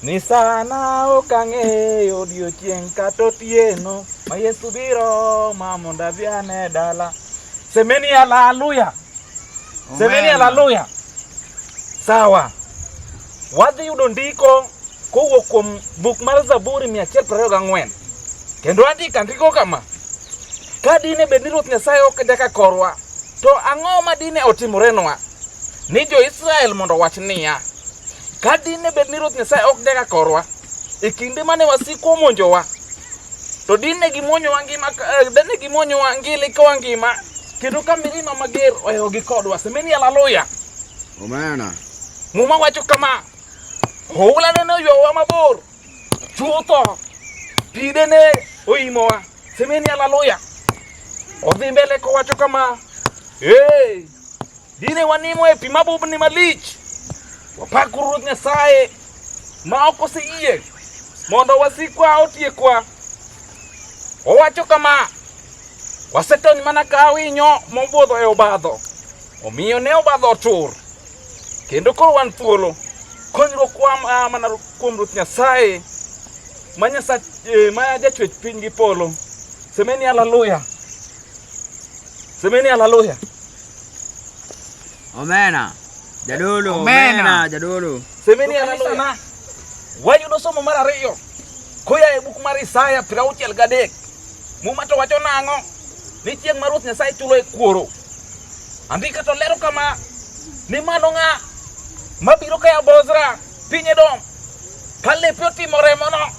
Ni sana ok ang'eyo odiechieng' kata otieno ma Yesu biro ma mondo adhi ane dala. Semeni haleluya, semeni haleluya. Sawa, wadhi yudo ndiko kowuok kuom buk mar Zaburi mia achiel piero ariyo gang'wen kendo andika ndiko kama ka dine bed ni Ruoth Nyasaye ok jaka korwa To ang'o ma dine otimorenwa ni jo-Israel mondo wach niya, ka dine bed ni Ruoth Nyasaye ok dega korwa e kinde mane wasiko monjowa, to dine gimonyowa ngima, eh, dine gimonyowa ngili kowa ngima, kendo ka mirima mager ohewogi kodwa. Semeni haleluya. Omena. Muma wacho kama, oula nene oywawa mabor chutho, pidene oimowa. Semeni haleluya. Odhi mbele kowacho kama, hey, dine wanimo e pi mabubni malich, wapak Ruoth Nyasaye ma ok oseyie mondo wasikwa otiekwa. Owacho kama, wasetony mana ka winyo mobudho e obadho, omiyo ne obadho otur, kendo koro wan thuolo. Konyruokwa mana kuom Ruoth Nyasaye ma nyasa eh, ma jachwech piny gi polo semeni haleluya semeni haleluya omena jadolo omena jadolo semeni haleluya wayudo somo mar ariyo koya e buk mar Isaya piero auchiel gadek Muma to wacho nang'o? Ni chieng' ma Ruoth Nyasaye chulo e kuoro. Andika to lero kama ni mano ng'a mabiro kaya Bozra piny Edom ka lepe otimo remono.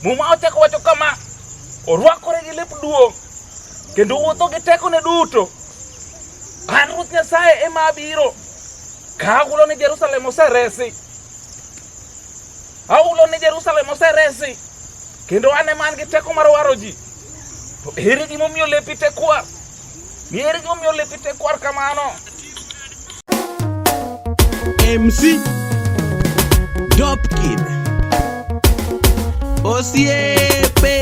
Muma ochako wacho kama orwakore gi lep duong' kendo wuotho gi tekone duto. An Ruoth Nyasaye ema abiro ka ahulo ni Jerusalem oseresi. Aulo ni Jerusalem oseresi, kendo an ema an gi teko mar waro ji. To ere gimomiyo lepi tekwar? Ni ere gimomiyo lepi tekwar kamano? MC Dopkid Osiepe